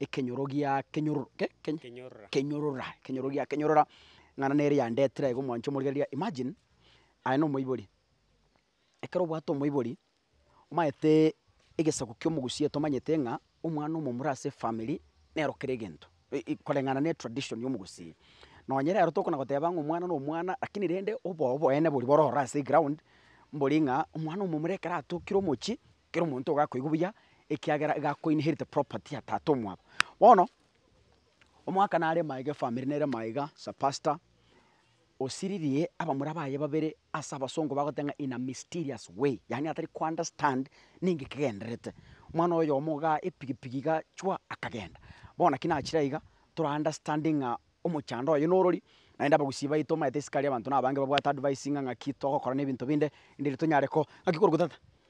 ekenyoro gia kenyororo ke keny Kenyorora. kenyorora ekenyoro gia kenyorora, ng'ana nere yandetire aiga omwancho omorike riria imagine, aye na omoibori, ekero obwate omoibori, omanyete egesaku kia omogusia tomanyete ng'a omwana omomura ase efamiri nero kera egento e- e koreng'ana ne tradition ya omogusia. Nonye rero tokona goteba ng'a omwana na omwana lakini rende obobe boene boria bororo ase egraound, mbori ng'a omwana omomura ekero atokire omochie, Kera omonto ogakoigwa buya, ekiagera iga ako inherite property ya tata omwabo. Bono, omwaka nare maiga efamiri nere maiga, Sir Pastor, osiririe abamura baye babere ase abasongo bagoteba ng'a in a mysterious way, yaani atari ko understand ninki kegendererete. Omwana oyomo igaa epigipigi igaa chwa akagenda. Bono naki nachire aiga, tora understanding ng'a omochando oye norori, naende abagusii baito omanyete isiko aria abanto nabange babwate advice ng'a ng'aki togokora na ebinto binde, erinde tonyare ko ng'aki korokwa tata.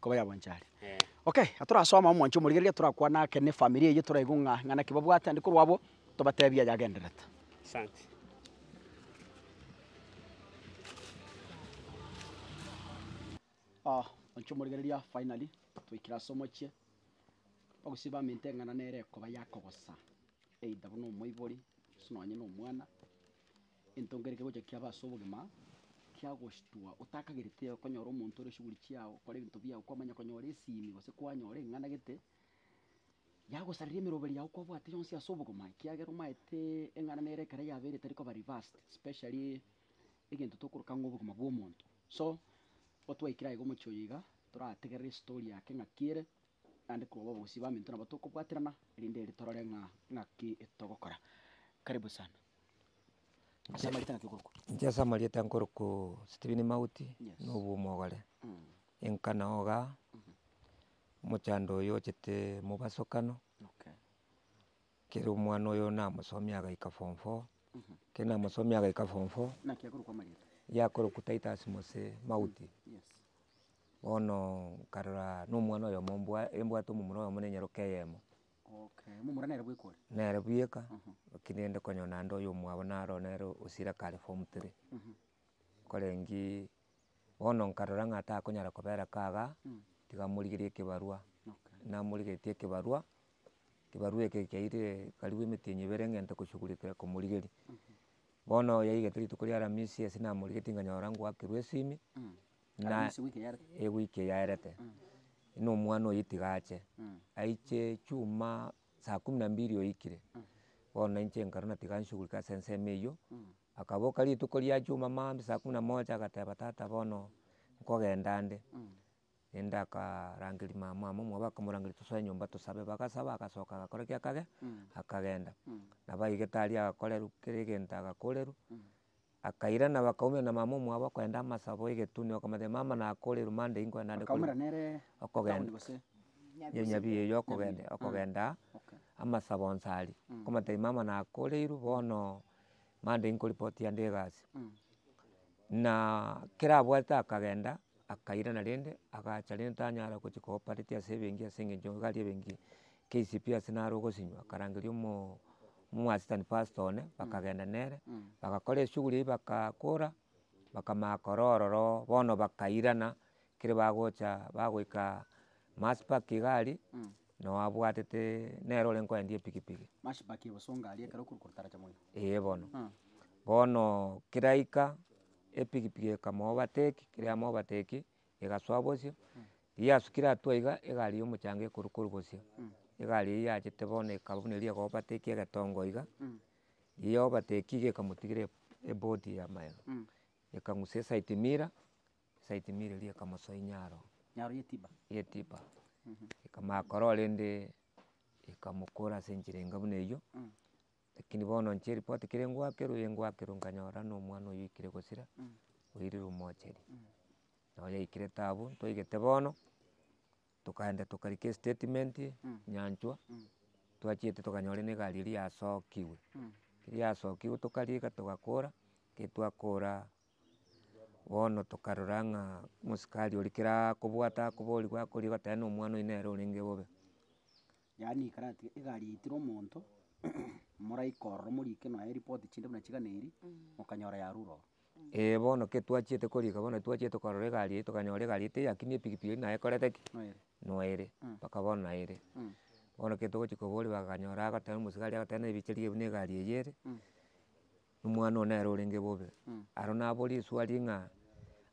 Koba yabanchari. Okay, atorasoma omwancho omorigereria torakwane ake ne family eyio toraigu ng'a ng'a naki babwate ande korwa abwo tobatebi ayagenderete. Asante. Omwancho omorigereria finally twaikire ase omochie, bagusii bamenta eng'ana nere ekoba yakogosa either buna omoibori gose nonye na omwana. Entongereria gocha kiabo ase obogima kiagochitwa otakagerete konyora omonto ore chiguri chiao, kora ebinto biao kwamanya konyora esiimi gose kwanyora eng'anagete yagosareria emeroberi yao kwabwate yonsi ase obogima ekiagera omaete eng'ana nere ekero yabeire etari koba reversed especially egento tokoroka ng'a obogima bwa omonto. So, igo twaikire aiga omochie oyo iga, torategerere estory yake ng'aki ere naende koba abagusii baminto nabo tokobwaterana erinde ere torore ng'a ng'aki etogokora. Karibu sana. Inche amarieta ngaki okorokwa? Inche ase amarieta nkorokwo Stephen Mauti, Yes. na obwo omogore, enkana oga, omochando oyo ochete mobaso kano, Okay. kere omwana oyo namosomia agaika form four, kere namosomia agaika form four, Naki akorokwa amarieta? yakorokwa Titus Mose Mauti, Yes. bono nkarora na omwana oyomo mbwa embwate omomura oyomo na enyaroka eyemo. Nere bweka, lakini rende konyora naende oyomwabo naro oo nere osira kare form three. Nkorengiiii, bono nkarora ng'a takonyara kobera ka igaa, tiga morigerie ekebarwa. Namorigeretie ekebarwa, ekebarwa eke kiairire karibu emetienyi ebere ng'a ente koshughulikira komorigeria. Bono yaigete rituko ria aramisi ase namorigetie nkanyora ngwakerwa esimi, Na Arusi wiki yarete. ewiki eyaerete, na omwana oye tiga ache, aiche chuma saa kumi na mbili oikire, bono nainche nkarwa na tiga nshugulike ase ensemo eywo, akaboka rituko riachuma maambia saa kumi na moja agateba tata bono nkogenda ande, naende akarangeria mamamo omwabo akamorangeria tosoe nyomba tosabe, bagasaba agasoka agakora ki akagenda, nabo aigete aria agakorerwa kera egento agakorerwa. Akairana bakaumera na mama omwabo akoenda amasabo egetunwa akamotebia mama nakore erumande inkoe naende kore Bakaumera nere okogenda town gose Nyabisinge? Nyabisinge eyo okogende Nyabisinge, okogenda okay. amasabo onsi aria akamotebia mama nakoreiru bono mande nkorepoti yande egasi na kera abwate akagenda akairana rende agacha rende tanyara gochia koopareti ase ebenki ase eng'encho nigo aria ebenki. KCPS ase naro ogosinywa akarangeria omo assistant pastor one bakagenda nere, bagakora eshughuli eywo bagakora, bakamanya korwa ororo bono bakairana ekero bagocha bagoika mass park iga aria nao abwatete nere ore koendia epikipiki. Mass park ebosongo aria ekero okoroka otaracha moino. Ee bono, bono keraika epikipiki ekamo overtake kera ya mo overtake egasoa bosio, yasukire atwo iga, egari ya omochanga ekoru koru bosio, egari eywo yachete bono ekaba buna eria ego overtake egetongo iga, ya overtake iga ekamotigera eb- ebodi ya magega, ekang'usa eside mirror, eside mirror eria ekamosoa inyaro, Nyaro ya etiba. ya etiba, ekamanya korwa rende, ekamokora ase enchera enga buna eywo. Lakini bono inche ripoti kere ngoakerwe eye ngoakerwe nkanyora ng'a omwana oyo oikire gosira, oirire omocheri. Nabo yaikire taabu, ntoigete bono, tokaenda tokarika estatement nyanchwa, twachiete tokanyora na egari eria yasokigwe, keri yasokigwe tokariika togakora, keri twakora bono tokarora ng'a omosikari oria kera akobwata akoboria gwakorire goteba ng'a omwana oyo nere orenge bobe. Yaani ikarati egari yaitire omonto, moraika ororo moriike nonya eripoti chinde buna chigana eeri, mokanyora yarure ororo. Ee, bono ke twachiete korika bono titwachiete korora egari eye tokanyora egari eye teyakinie epikipiki eri naye ekorete ki? Noere. Noere, mpaka bono naye ere. Bono ke togochi koboria bakanyora agoteba omosigari agoteba naye bicharigia buna egari eye ere. Nomwana oo nere orenge bobe. Aro nabo risuari ng'a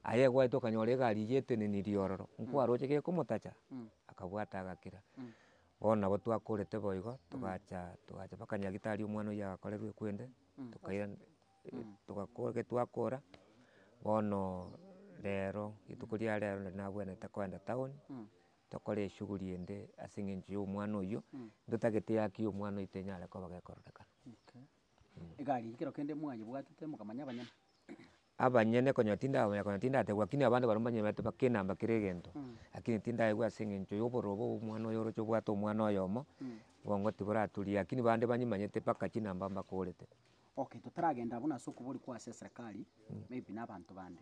aye egwaete okanyora egari eyio eteneni riororo, nkwaroche gekomotacha? Akabwata agakira. Bono nabo twakorete bo igo, togacha togacha mpaka nyagitari omwana oyio agakorerwa ekwende, tokaira togakora eke twakora, bono rero rituko ria rero nari nabwenerete kogenda town, tokore eshughuli ende ase eng'encho ya omwana oyio, ntotagete eaki ya omwana oyio tenyare koba gekororekana. Egari eye kero kende mwayebwatete mokamanya abanyene. Abanyene konya tindabamanya konya tindategwa lakini abande baria mbanyene baete baka enamba kera egento. Lakini tindaegwa ase eng'encho ya obororo obo omwana oyo oroche obwate omwana oyomo, obongo tiboraturia lakini bande banyimanyete mpaka chinamba mbakorete. Okay totaragenda buna ase okobori kwa ase eserekari, maybe na abanto bande.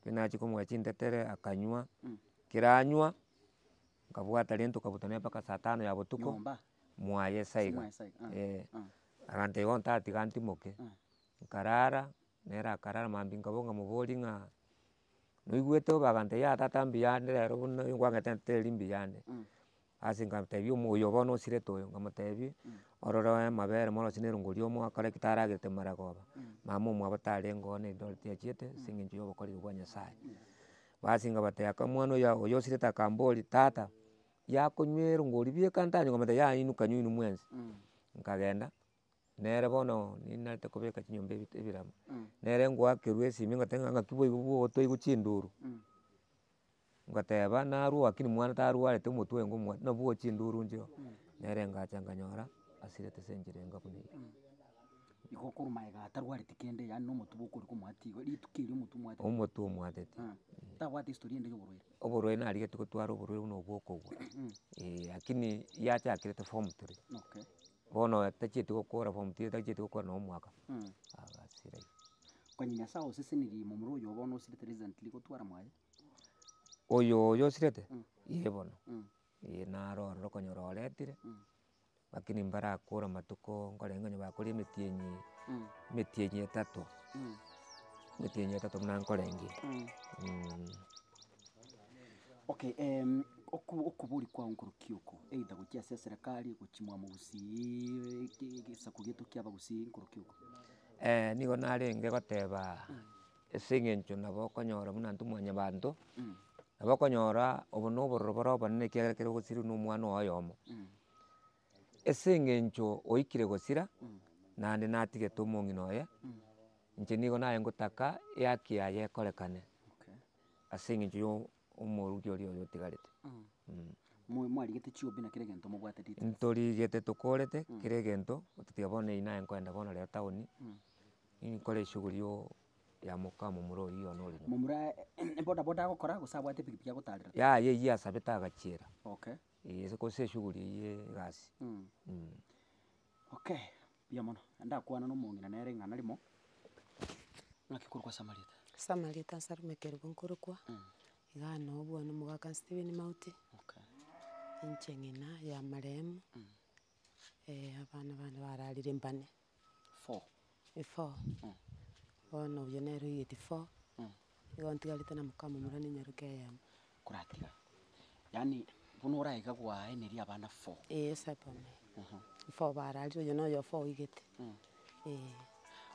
ekero nachia komoa chintetere akanywa, ekero anywa, nkabwata rende tokabuta nere mpaka saa tano ya botuko, mwaye sa iga, eh. Abanto igo ntatiga ntimoke, nkarara, nere akarara mambia nkabua nkamobori ng'a noigwete obe agantebia tata mbuya ande rero buna nigo kwangete ntetereiri mbuya ande. Ase nkatebi omo oyo bono osirete oyo, nkamotebi, ororo amabere morose na erongo riomo akore ki taragerete mara koba, mama omwabo tarenge oo na Eldoret achiete ase eng'encho ya obokoreri bwa Nyasaye. Basi nkabatebia aka omwana oyo oyo osirete akamboria, tata, yakonywa erongo ribe ekanta yanywa? Nkamotebia yayinuka nywa inwe mwensi. Nkagenda. Nere bono ninarete kobeka chinyomba ebi ebirama. Nere ngoakerwa esimi ngoteba ng'a ng'aki boigo bwotoigwa chinduru. Ngoteba narwo lakini mwana tarwarete omotwe oyo ngomwana nabwo owe chinduru nchio. Nere ngacha nganyora asirete ase enchera enga buna eye. Igo okorwa magega atarwareti kende yaani na omotwe bokori komwati igo rituko erio omotwe omwateti. Omotwe omwateti. Tabwati historia ende ya oborwaire. Oborwaire narigetie gotwara oborwaire buna obwo okogwa. Eeh lakini yachakerete form three. Okay. Bono tachieti gokora form three tachieti gokora nonye omwaka basi erio. Onye nyasae osesenirie momura oyo bono osirete recently gotwara mwaye. Oyo oyo osirete ee bono ee naro ororo okonyora oretire lakini mbarakore amatuko nkorenge onye bakoria emetienyi emetienyi etato emetienyi etato buna nkorenge. Okay em, oku- okobori kwao nkorokio oko, either gochia ase eserekari, gochia mwamo gosiiii ki- gesaku gieto kia abagusii nkorokio oko. nigo narenge goteba ase eng'encho nabo okonyora buna intwe mwanyabanto, nabo okonyora obo na obororo bore obonene ekiagera ekero ogosirwa na omwana oye oyomo. Ase eng'encho oikire gosira, naende natigete omong'ina oye, inche nigo naye ngotaka eaki yaye ekorekane. Okay. ase engencho y'omoruki oria oyo otigarete. Mobe mwarigete chiombe na kera egento mobwate ritang'ani. Ntorigete tokorete kera egento, otatiga bono eyio naye nkoenda bono rero town, inkore eshughuli yo ya moka momura oyio one ore nyomba. Momura boda boda agokora gose abwate epikipiki agotarera? Yaya eyio asabete agachiera, Okay. eeh gose eshughuli eyio ye egasi. Okay. Mbuya mono. Ndakwana nomong'ina nere ing'ana rimo. Ng'aki korokwa Samaritan? Samaritan ase rimo ekerube nkorokwa. Iga anoe bwane omogaka Stephen Mauti. Okay. Inche ng'ina ya marehemu. abana bane bararire mbane. Four. Eh four. Bono oyio nere oigeti four. Igo ntigarete na mokamamura ne nyaroke eyemo. koratiga, yaani buna orae iga gwaeneria abana four. Ee esabame, Aha. four bararire oyo na oyo four oigete, Mm. ee.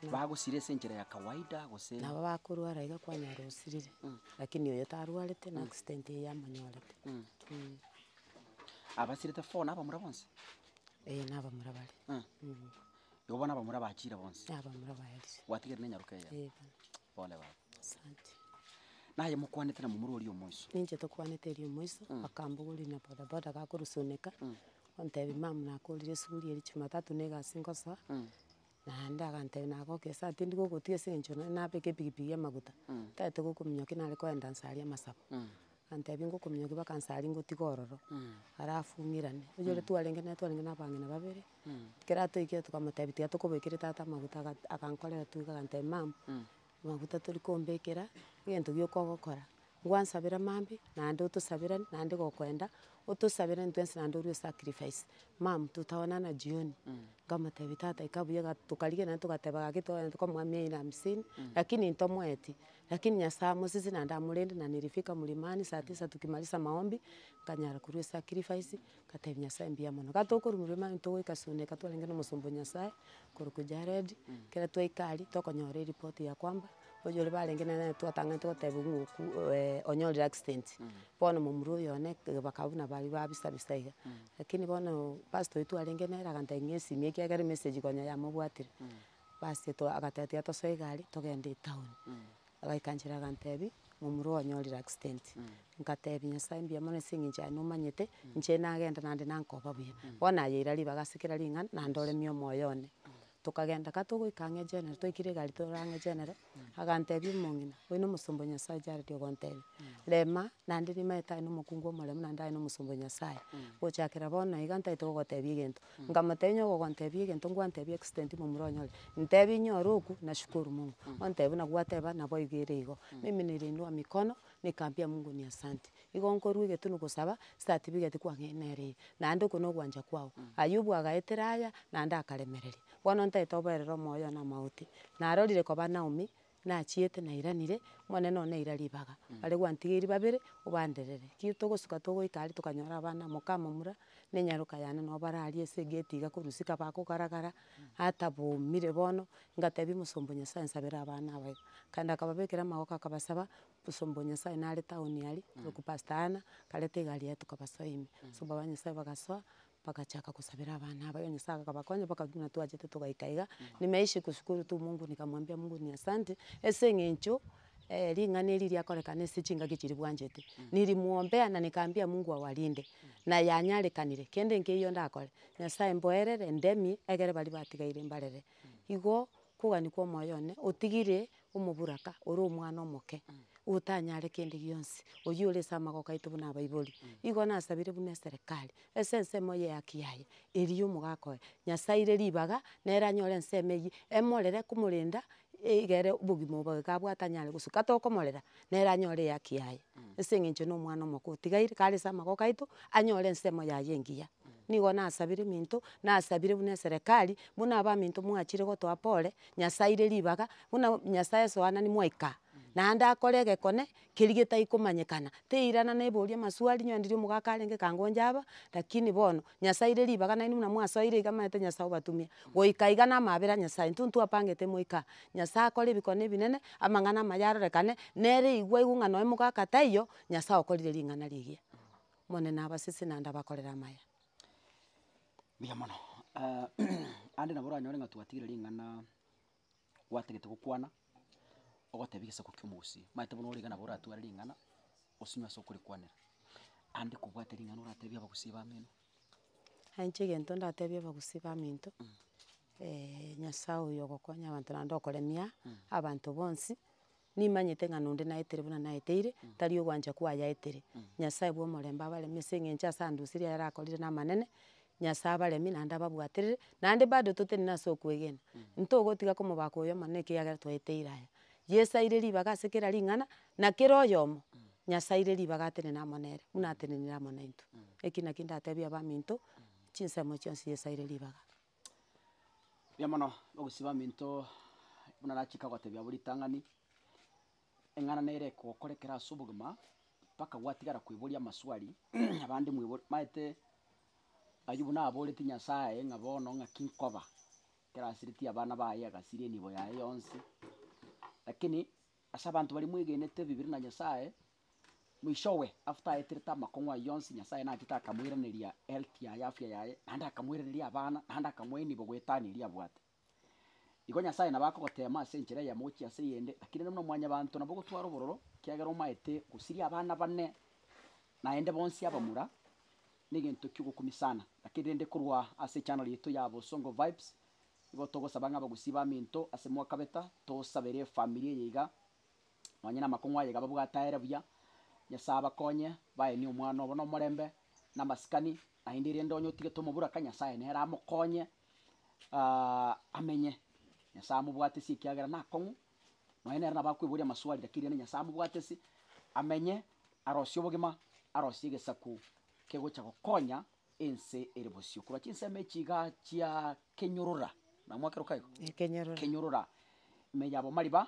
Na- Bagosira ase enchera ya kawaida gose? nabo bakorwara iga kwanyora osirire, Mm. lakini oyo tarwarete na accident eye yamonyorete. Mm. Mm. Abasirete four na abamura bonsi? Ee na abamura bare. Ah. Mm. Igo bono abamura bachire bonsi? Na abamura baerire. Gwatigere nenyaroka eye? Ee bono. Pole baba. Asante. Naye mokwanete na momura oria omoiso. Ninche tokwanete eria omoiso, akambogoria na boda boda gakorusoneka, ontebia mama nakorire esuguri eria jumatatu na egasi ngosoa, naende agantebia nagoke esaa tindi gogotiga ase eng'encho naende nabeka epikipiki ya amaguta, ntagete gokominyoka ki nare koenda nsaria amasabo, agantebia ngokominyokia mpaka nsaria ngotiga ororo, alafu ng'irane. Oyo ore twarenge nere twarenge na abang'ina babere, kera atoikire tokamotebia tiga tokobekeri tata amaguta, aga- agankorera tu iga agantebia mama, Amaguta tori kombekera egento gioka ogokora, ngwansabere mambia naende otosaberanie naende gokoenda, otosabere intwe ense naende orie osacrifice. Mum totaonana jioni, nkamotebia tata ika buya iga tokarigereria naende togateba gaki togenda tokamoa mia ine na hamsini, lakini intomoeti, lakini Nyasae amosese naende amorende na nilifika mlimani saa tisa tukimaliza maombi, nkanyara korwa esacrifice. Ngatebia nyasaye mbuya mono. Ekero tokorumerwa emani togoika sunneka twarenge na omosomba o nyasaye, okorokwa jared, ekero twaika aria, tokonyora eripoti ya kwamba, oyio ore barenge nere nere twatang'anete gotebiwa ng'a oku onyorire accident. Bono momura oyo one bakaba buna baria babisa bisa iga. Lakini bono pastor oito twarenge nere agantebia ng'a esimia ekiagera emessage konya yamobwatire. Basi agateba tiga tosoe egari togende etown. Agaikansera agantebi, momura ogo onyorire accident, nkatebi nyasae mbuya mono ase eng'encho yaye nomanyete, inche nagenda naende nankoba buya. Bono nayeira ribaga ase kera ring'ana, naende oremia omoyo one. Tokagenda ka togoika ang'e egenero, twaikire egari torore ang'e egenero, agantebi omong'ina, oyo na omosomba o nyasae Jared ogontebi, rema naende rimaete aye na omokungu omoremu naende aye na omosomba o nyasae, gochakera bono iga ntaete gogotebia egento, Nkamotebia onye ogogontebia egento nkwantebi extent momura onyore, ntebi inyore oku nashukuru Mungu, ontebi buna gwateba naboigo ere igo, mimi niliinua mikono nikaambia Mungu ni asante, igo nkorwa egetunu gosaba certificate kwang'ee nere eye, naende oko nogwancha kwago. Ayubu agaetera aya naende akaremereria, bono ntagete oboerera omoyo one amagote, narorire koba Naomi. nachiete nairanire, omonene one naira ribaga, bare gwantigeirie babere obanderere. Ekio togosuka togoika aria tokanyora abana, moka momura, na enyaroka yane nabo bararie ase egate iga korwa isiko abakogara gara, atabomire bono, ngatebia omosomba o Nyasaye nsabera abana aba iga. Akaenda akababekera amagoko akabasaba, omosomba o Nyasaye nare town aria, oroku pastor Anna, akareta egari yaye tokabasoa ime. Abasomba ba Nyasaye bagasoa, Bagachaka gosabera abana aba, Nyasaye akabakonya baka buna twachete togaika iga, nyuma ya isiko sukuru tu Mungu nikamwambia Mungu ni asante, ase eng'encho ring'ana eri riakorekana ase chingaki chiria bwanchete, nirimwombea na nikaambia Mungu awarinde, na yanyarekanire, kende nkeiyo ndakore, Nyasaye mboerere, ndemie, egere baria batigaire mbarere. Igo kogania kwa omoyo one, otigire Omoburaka ore omwana omoke, otanyare kende gionsi, oyio ore ase amagoko aito buna abaibori. Igo nasabire buna eserekari, ase ensemo eye ehaki yaye, erio omogaka oye, Nyasae aire ribaga, nere anyore ensemo eyio, emorere komorenda, egere obogima obo iga abwate anyare gosuka. Tokomorera. nere anyore ehaki yaye, ase eng'encho na omwana omokoo otigaire, kare ase amagoko aito, anyore ensemo yaye engiya. Nigo nasabire eminto, nasabire buna eserekari, buna abaminto mwachire gotoa pore, Nyasae aire ribaga, buna Nyasae esoanani mwaika, naende akore egekone keria getai komanyekana, teirana naiboria amaswali, inwe ndiri omogaka arenge kangoncha aba, rakini bono, Nyasae aire ribaga nainwe buna mwasoire iga amaete Nyasae obatumia. Goika iga namabera a Nyasae, intwe ntwapangete moika Nyasae akore ebikone ebinene, amang'ana amaye arorekane, nere igwa igwa ng'a noe mogaka taiyo, Nyasae okorire ring'ana rigiya. Omonene abasese naende abakorere amaya. Mbuya mono, ande nabo oranyore ng'a twatigire ring'ana. gwatagete gokwana, ogotebia egesaku kia omogusii, omanyete bono origa nabo oratware ring'ana, osinywe ase okorikwanera. Ande kobwate ring'ana oratebie abagusii bamino. Nanye inche egento ndatebie abagusii baminto, nyasae oyo ogokonya abanto naende okoremia abanto bonsi, Nimanyete ng'a nonde naetere buna naeteire, tari ogwancha kwayaetere. Nyasae bw'omorembe abaremie ase eng'encho ase andusirie ayare akorire namanene, Nyasae abaremie naende ababwaterere, naende bado totenena ase okwegena. Ntogotiga komobaka oyo omonene ekiagera twaeteire aya. Yeso aire ribaga ase kera ring'ana, na kera oyomo, Nyasae aire ribaga atenene amo nere, buna atenenire amo naintwe. Eki nakio ndatebie abaminto, chinsemo chionsi Yeso aire ribaga. Mbuya mono ogosiba aminto buna nachaka gotebia abwo ritang'ani, eng'ana nere egokora ekero ase obogima mpaka gwatigara kweboria amaswali abande mwebori maete Ayubu naboretie Nyasaye ng'a bono ng'aki nkoba ekero asiretie abana baye agasiria enibo yaye yonsi, lakini ase abanto baria mwegenete Bibilia na Nyasaye, Mwichowe, after aeterete amakong'u ayio onsi, Nyasae nachete akamoiraneria health yaye, afya yaye, naende akamoiraneria abana, naende akamoa enibo goetania eria abwate. Igo Nyasae nabo akogoteema ase enchera eyemo gochia ase eyende, lakini nere buna mwanyabanto nabo ogotwara obororo, ekiagera omaete gosiria abana bane naende bonsi abamura, negento kiogokumia sana. Lakini rende korwa ase echannel yaito ya Bosongo Vibes, igo togosaba ng'a abagusii bamento ase mwakabeta, tosabere efamiri eye iga, Nonya namakong'u aye iga babwate aere buya. Nyasae abakonye, baenie omwana obo nomorembe, namasikani, naende erinde onye otigete omoburaka, Nyasae nere amokonye amenye. Nyasae amobwatesie ekiagera nakong'u, nonya nere nabo akoiboria amaswali lakini rirorio Nyasae amobwatesie amenye, arosie obogima, arosie egesaku kegocha gokonya ense ere bosio. Korwa chinsemo echi igaa chia kenyorora, namwakeroka igo? Ekenyorora. Kenyorora, ime yabo mariba,